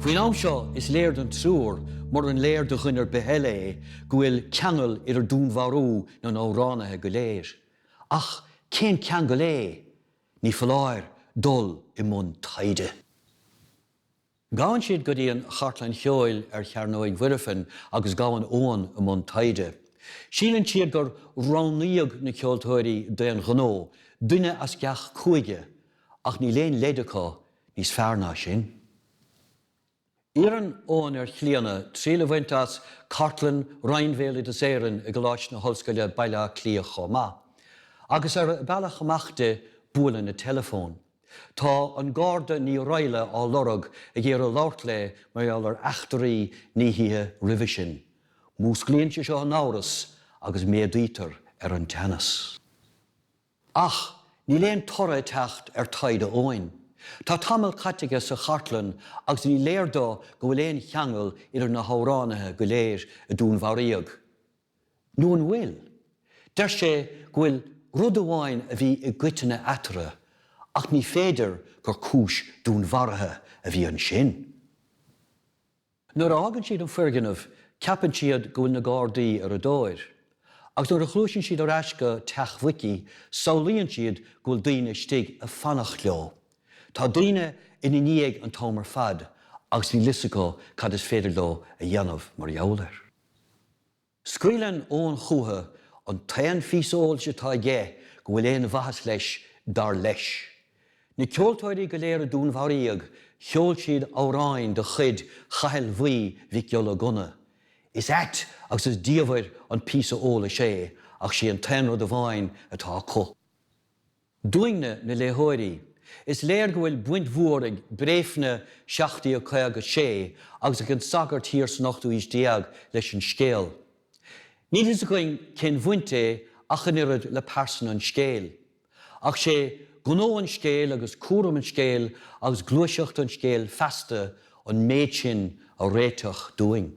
Faoin am seo, is léir don triúr, muran léir do dhuine ar bith eile é, go bhfuil ceangal idir dúnmharú na n-amhránaithe go léir. Ach cén ceangal é? Ní foláir dul i mbun taighde. Gabhann siad go dtí an chartlann cheoil ar Chearnóig Mhuirfean agus gabhann Eoghan i mbun taighde. Síleann siad gur roghnaíodh na ceoltóirí d'aon ghnó, duine as gach cúige, ach níl aon leid acu níos fearr ná sin. Iarrann Eoghan ar Chlíodhna triail a bhaint as cartlann Roinn Bhéaloideas Éireann i gColáiste na hOllscoile Baile Átha Cliath chomh maith, agus ar a bealach amach di, buaileann a teileafón. Tá an Garda Ní Raghalla á lorg ag iarraidh labhairt léi mar gheall ar eachtraí na hoíche roimhe sin. Músclaíonn sé seo an t-amhras agus méadaítear ar an teannas. Ach níl aon toradh ag teacht ar taighde Eoghain. Tá tamall caite aige sa chartlann agus ní léir dó go bhfuil aon cheangal idir na hamhránaithe go léir a dúnmharaíodh. nó an bhfuil? Deir sé go bhfuil rud amháin a bhí i gcoitinne eatarthu ach ní féidir gur cúis dúnmharaithe a bhí ansin. Nuair a fhágann siad an foirgneamh ceapann siad go bhfuil na Gardaí ar a dtóir. Agus nuair a ghluaiseann siad ar ais go teach Mhicí samhlaíonn siad go bhfuil daoine istigh ag fanacht leo. Tá daoine ina ndiaidh an t-am ar fad agus níl fhios acu cad is féidir leo a dhéanamh mar gheall air. Scaoileann Eoghan chucu an t-aon phíosa eolais atá aige go bhfuil aon mhaitheas leis, dar leis. Na ceoltóirí go léir a dúnmharaíodh, cheol siad amhrán de chuid Chathail Bhuí Mhic Giolla Gunna. Is ait agus is diamhair an píosa eolais é ach 'sé an t-aon rud amháin atá acu. Dúinne, na léitheoirí, is léir go bhfuil baint mhór ag Bréifne 1756 agus ag An Sagart thiar san ochtú haois déag leis an scéal. Níl fhios againn cén bhaint é ach an oiread le pearsana an scéil. Ach sé gnó an scéil agus cúram an scéil agus gluaiseacht an scéil feasta an méid sin a réiteach dúinn.